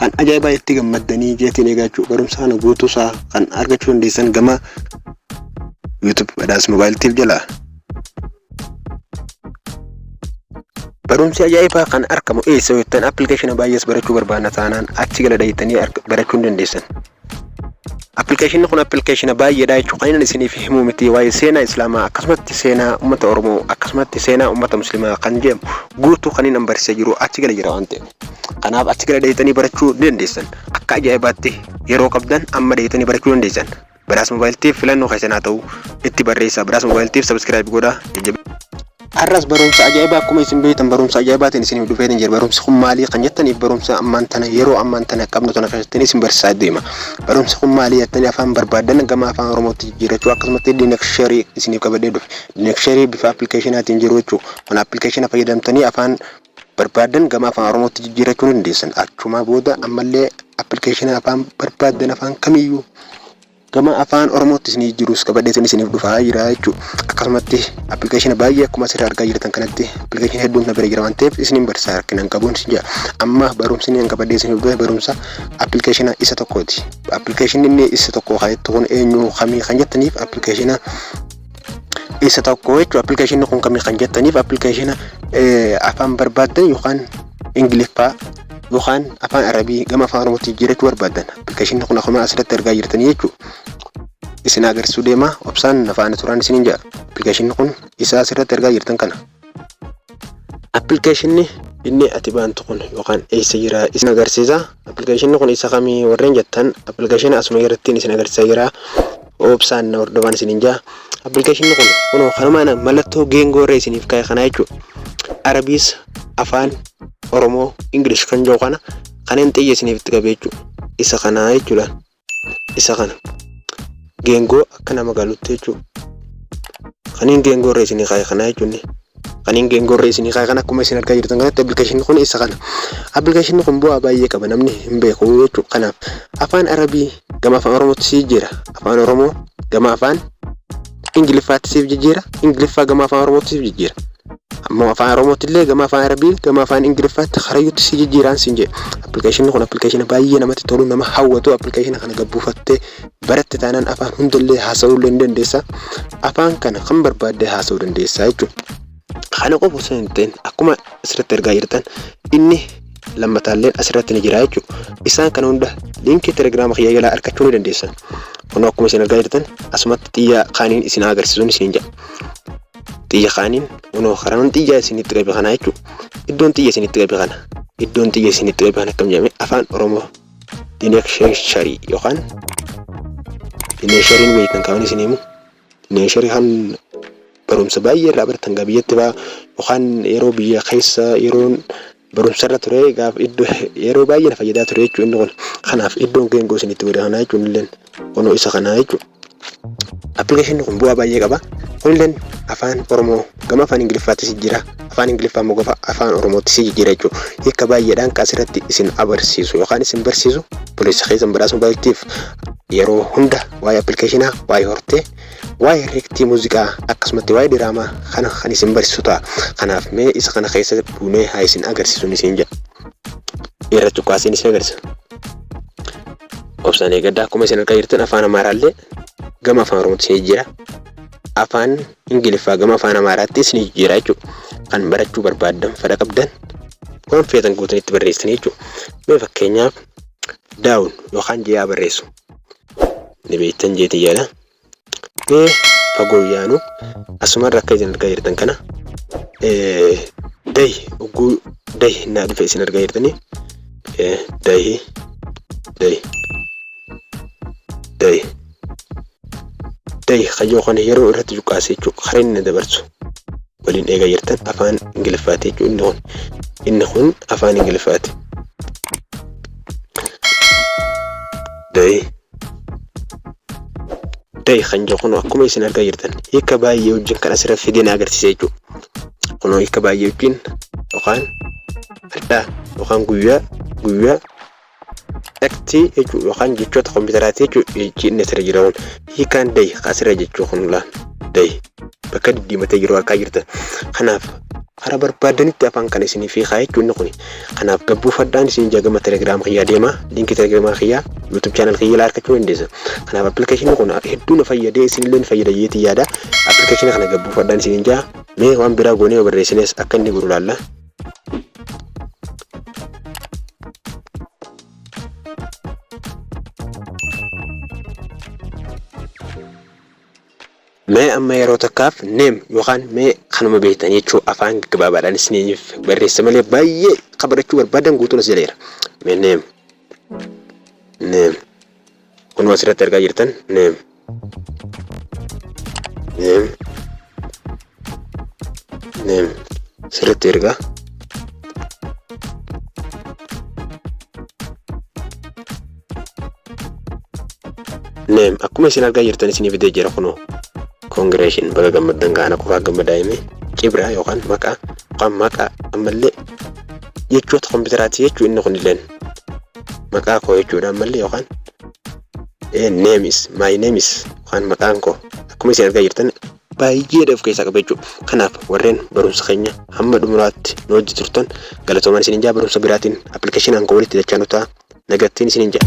Kan ajaa'ibaa itti gammaddanii jeetiin eegaa jechuudha. Barumsa kana guutuu isaa kan argachuu dandeessan gama YouTube Badhaas Mobile Tiif jalaa. Barumsi ajaa'ibaa kan argamu eessa yoo jettan appilikeeshina baay'ees barachuu barbaadna taanaan achi gala dhayitanii barachuu ni dandeessan. Appilikeeshinni kun appilikeeshina baay'eedha jechuun kan inni isiniif himuu miti waa'ee seenaa islaamaa akkasumatti seenaa uummata oromoo akkasumatti seenaa uummata muslimaa kan jedhamu guutuu kan inni barsiisaa jiru achi gala jira waan ta'eef kanaaf achi gala deebitanii barachuu ni dandeessan akka ajaa'ibaatti yeroo qabdan amma deebitanii barachuu dandeessan badhaasa moobaayiltiif filannoo keessan haa ta'u itti barreessaa badhaasa moobaayiltiif sabiskiraayib godhaa jajjabeessaa. Har'as barumsa ajaa'ibaa akkuma isin beektan barumsa ajaa'ibaatiin isiniif dhufeetiin jira. Barumsi kun maalii kan jettaniif barumsa ammaan tana yeroo ammaan tana qabnu tana keessatti isin barsiisaa deema. Barumsi kun maalii jettanii afaan barbaaddan gama afaan Oromootti jijjiirrachuu akkasumatti diinaksharii isiniif qabadhee dhufe. Diinaksharii bifa appilikeeshinaatiin jiru jechuudha. Kun appilikeeshina fayyadamtanii afaan barbaaddan gama afaan Oromootti jijjiirrachuu ni dandeessan. Achumaa booda ammallee appilikeeshina afaan barbaaddan afaan kamiyyuu Gama afaan oromootti isinii jirus qabadheetiin isiniif dhufaa jira jechuu akkasumatti appilikeeshina baay'ee akkuma asirra argaa jirtan kanatti appilikeeshina hedduun na bira jira waan ta'eef isiniin barsiisaa rakkina hin qabuun isin jira amma barumsi inni qabadhee isiniif dhufe barumsa appilikeeshina isa tokkooti appilikeeshinni inni isa tokko kan jettu kun eenyu kamii kan jettaniif appilikeeshina isa tokko jechuudha. Appilikeeshinni kun kami kan jettaniif appilikeeshina afaan barbaaddan yookaan ingiliffaa yookaan afaan arabii gama afaan oromootti jijjiirachuu barbaaddan appilikeeshinni kun akkuma asirratti argaa jirtan jechuudha. Isin agarsiisuu deema obsaan na faana turaan isiniin jedha. Appilikeeshinni kun isa asirratti argaa jirtan kana. Appilikeeshinni inni ati bantu kun yookaan eessa jira isin agarsiisa. Appilikeeshinni kun isa kamii warreen jettan appilikeeshina asuma irratti isin agarsiisa jira. Obsaan na hordofaan isiniin jaa. Appilikeeshinni kun kunoo kanuma ana mallattoo geengoo irra isiniif kaa'e kana jechuudha. Arabiis afaan Oromoo Ingilish kan jiru kana kanneen xiyya isiniif itti qabe jechuudha. Isa kana jechuudha. isa kana geengoo akka nama galutti jechuudha. Kaniin geengoo irra isinii kaa'e kana jechuun kaniin geengoo irra isinii kaa'e kana akkuma isin argaa jirtan kanatti appilikeeshinni kun isa kana. Appilikeeshinni kun bu'aa baay'ee qaba namni hin beeku jechuudha. Kanaaf afaan arabii gama afaan oromootti si jijjiira afaan oromoo gama afaan Ingiliffaatti siif jijjiira. Ingiliffaa gama afaan Oromootti siif jijjiira. Ammoo afaan Oromootti illee gama afaan Arabii gama afaan Ingiliffaatti karayyuutti si jijjiiraan siin jedhe. Appilikeeshinni kun appilikeeshina baay'ee namatti tolu nama hawwatu appilikeeshina kana gabbuufattee baratte taanaan afaan hundallee haasa'uu illee ni dandeessa. Afaan kana kan barbaadde haasa'uu dandeessa jechuudha. Kana qofa osoo hin ta'in akkuma asirratti argaa jirtan inni lammataalleen asirratti ni jira jechuudha. Isaan kana hunda liinkii telegiraama kiyya jalaa argachuu ni dandeessan. Kun akkuma isin argaa jirtan asumatti xiyya kaaniin isin agarsiisuun isin jedha. Xiyya kaaniin unoo karaan xiyya isinitti qabe kana jechuudha. Iddoon xiyya isinitti qabe kana. Iddoon xiyya isinitti qabe kana akkam jedhame afaan Oromoo dineeksheesharii yookaan dineeshariin beektan kaawwan isin himu. Neeshari kan barumsa baay'ee irraa baratan gaa biyyatti baa yookaan yeroo biyya keessa yeroon barumsa irra ture gaaf iddoo yeroo baay'ee na fayyadaa ture jechuun inni kun kanaaf iddoon geengoo isin itti godhe kanaa jechuun illeen kunoo isa kanaa jechuun appilikeeshinni kun bu'aa baay'ee qaba kunilleen afaan oromoo Gama afaan Ingiliffaattis jijjiira. Afaan Ingiliffaa immoo gama afaan Oromoottis jijjiira jechuudha. Hiika baay'eedhaan kan asirratti isin abarsiisu yookaan isin barsiisu obboleessa keessan badhaasa mobaayiltiif yeroo hunda waa'ee appilikeeshinaa, waa'ee hortee, waa'ee reektii muuziqaa akkasumatti waa'ee diraamaa kana kan isin barsiisu ta'a. Kanaaf mee isa kana keessa buunee haa isin agarsiisuun isin jedha. Irra cuqqaasiin isin agarsiisa. Obsaan eegaddaa akkuma isin argaa jirtan afaan Amaaraallee gama afaan Oromootti isin jijjiira. Afaan Ingiliffaa gama afaan Amaaraatti isinii jijjiiraa jechuudha. Kan barachuu barbaaddan fedha qabdan waan feetan guutan itti barreessanii jechuudha. Mee fakkeenyaaf daawun yookaan jee'aa barreessu ni beektan jeetii yaada. Mee fagoo yaanu asumarra akka isin argaa jirtan kana dahi ugguu dahi naa dhufe isin argaa jirtanii dahi dahi dahi Tahi kayyoo kana yeroo irratti cuqqaase jechuudha. Kan inni dabarsu waliin eegaa jirtan afaan Ingiliffaati jechuudha inni kun. Inni kun afaan Ingiliffaati. Tahi tahi kan jiru kun akkuma isin argaa jirtan hiika baay'ee wajjin kan asirra fidee na agarsiisa jechuudha. Kunoo hiika baay'ee wajjin yookaan addaa yookaan guyyaa guyyaa Text jechuu yookaan jechoota kompiitaraati jechuudha inni asirra jira kun hiikaan day kan asirra jechuu kun laan day bakka diddiimatee jiru argaa jirtan kanaaf karaa barbaadanitti afaan kana isiniif hiikaa jechuun inni kun kanaaf gabbuufadhaan isin jagama telegiraam kiyyaa deema liinkii telegiraam kiyyaa yuutuub chaanal kiyyaa ilaa argachuu dandeessa kanaaf appilikeeshinii kun hedduu na fayyadee isinillee ni fayyada jeetii yaada appilikeeshinii kana gabbuufadhaan isin jaa mee waan biraa goonee barreessines akka inni godhu laalla Mee amma yeroo takkaaf neem yookaan mee kanuma beektan jechuu afaan gabaabaadhaan isiniif barreessa malee baay'ee kan barachuu barbaadan guutuun as jaleera. Mee neem. Neem. Kun asirratti argaa jirtan name name name sirriitti ergaa name akkuma isin argaa jirtan isinii fidee jira kunoo congratulation baga gammaddan gaana kuraa gammadaa himee cibraa yookaan maqaa yookaan maqaa ammallee jechoota kompiitaraati jechuu inni kunilleen maqaa koo jechuudha ammallee yookaan name is my name is yookaan maqaan koo akkuma isin argaa jirtan baay'eedha of keessaa qaba jechuudha. Kanaaf warreen barumsa keenya hamma dhumuraatti nu wajji turtan galatoomaan isin ijaa barumsa biraatiin appilikeeshinaan koo walitti dachaa nutaa nagattiin isin ijaa.